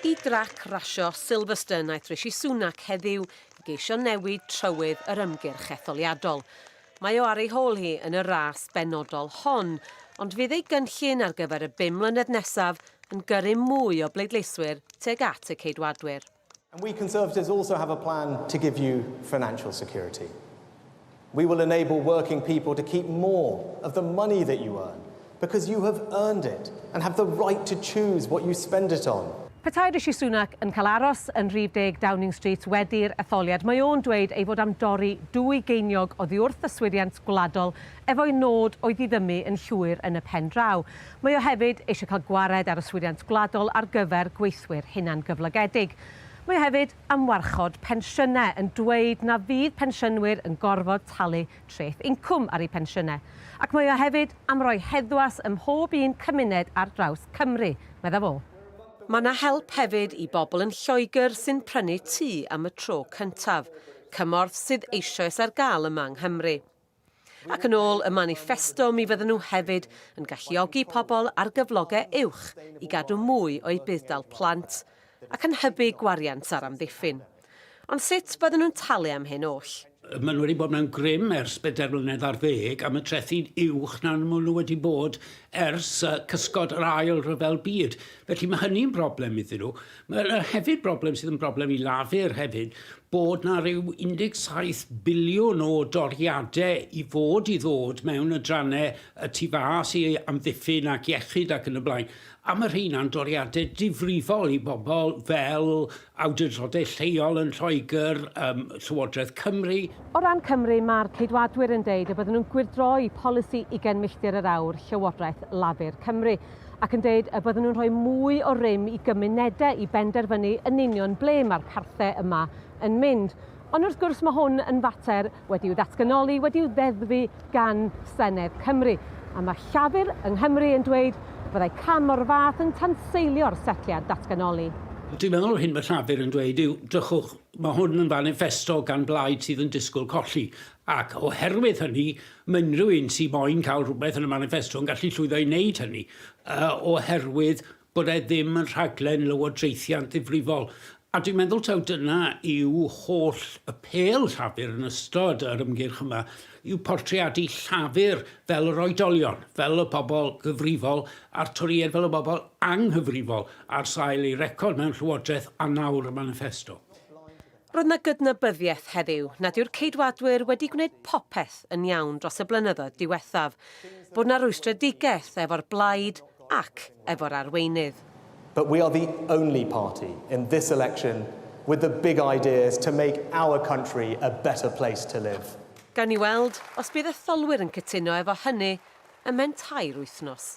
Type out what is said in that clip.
Y drac rasio Silverstone wnaeth Rishi Sunak heddiw i geisio newid trywydd yr ymgyrch etholiadol. Mae o ar ei hôl hi yn y ras benodol hon, ond fydd ei gynllun ar gyfer y bum mlynedd nesaf yn gyrru mwy o bleidleiswyr tuag at y Ceidwadwyr. And we Conservatives also have a plan to give you financial security. We will enable working people to keep more of the money that you earn because you have earned it and have the right to choose what you spend it on. Petai Rishi Sunak yn cael aros yn rhif deg Downing Street wedi'r etholiad, mae o'n dweud ei fod am dorri dwy geiniog oddi wrth yswiriant gwladol efo'i nod o'i ddiddymu yn llwyr yn y pen draw. Mae o hefyd eisiau cael gwared ar yswiriant gwladol ar gyfer gweithwyr hunangyflogedig. Mae o hefyd am warchod pensiynau, yn dweud na fydd pensiynwyr yn gorfod talu treth incwm ar eu pensiynau. Ac mae o hefyd am roi heddwas ym mhob un cymuned ar draws Cymru, meddai fo. Mae 'na help hefyd i bobl yn Lloegr sy'n prynu tŷ am y tro cyntaf, cymorth sydd eisoes ar gael yma yng Nghymru. Ac yn ôl y maniffesto mi fydden nhw hefyd yn galluogi pobl ar gyflogau uwch i gadw mwy o'u budd-dal plant ac yn hybu gwariant ar amddiffyn. Ond sut fydden nhw'n talu am hyn oll? Maen nhw wedi bod mewn grym ers bedair mlynedd ar ddeg am y trethi'n uwch na maen nhw wedi bod ers cysgod yr Ail Ryfel Byd. Felly mae hynny'n broblem iddyn nhw. Mae yna hefyd broblem sydd yn broblem i Lafur hefyd, bod na ryw 17 biliwn o doriadau i fod i ddod mewn adrannau y tu fas i amddiffyn ac iechyd ac yn y blaen. A mae rheina'n doriadau difrifol i bobl fel awdurdodau lleol yn Lloegr, um, Llywodraeth Cymru. O ran Cymru, mae'r Ceidwadwyr yn deud y bydden nhw'n gwyrdroi polisi ugain milltir yr awr Llywodraeth Lafur Cymru. ac yn dweud y bydden nhw'n rhoi mwy o rym i gymunedau i benderfynu yn union ble mae'r parthau yma yn mynd. Ond wrth gwrs mae hwn yn fater wedi'w ddatganoli, wedi'w ddeddfu gan Senedd Cymru, a mae Llafur yng Nghymru yn dweud y byddai cam o'r fath yn tanseilio'r setliad datganoli. Dwi'n meddwl yr hyn mae Llafur yn dweud yw, drychwch, mae hwn yn faniffesto gan blaid sydd yn disgwyl colli, ac oherwydd hynny Mae unrhyw un sy'n moyn cael rhywbeth yn y maniffesto yn gallu llwyddo i wneud hynny, oherwydd bod e ddim yn rhaglen lywodraethiant ddifrifol. A dwi'n meddwl taw dyna yw holl y pêl Llafur yn ystod yr ymgyrch yma, yw portreadu Llafur fel yr oedolion, fel y pobl gyfrifol, a'r Torïaid fel y bobl anghyfrifol ar sail eu record mewn llywodraeth a nawr y maniffesto. Roedd 'na gydnabyddiaeth heddiw nad yw'r Ceidwadwyr wedi gwneud popeth yn iawn dros y blynyddoedd diwethaf, bod 'na rwystredigaeth efo'r blaid ac efo'r arweinydd. But we are the only party in this election with the big ideas to make our country a better place to live. Gawn ni weld os bydd etholwyr yn cytuno efo hynny ym mhen tair wythnos.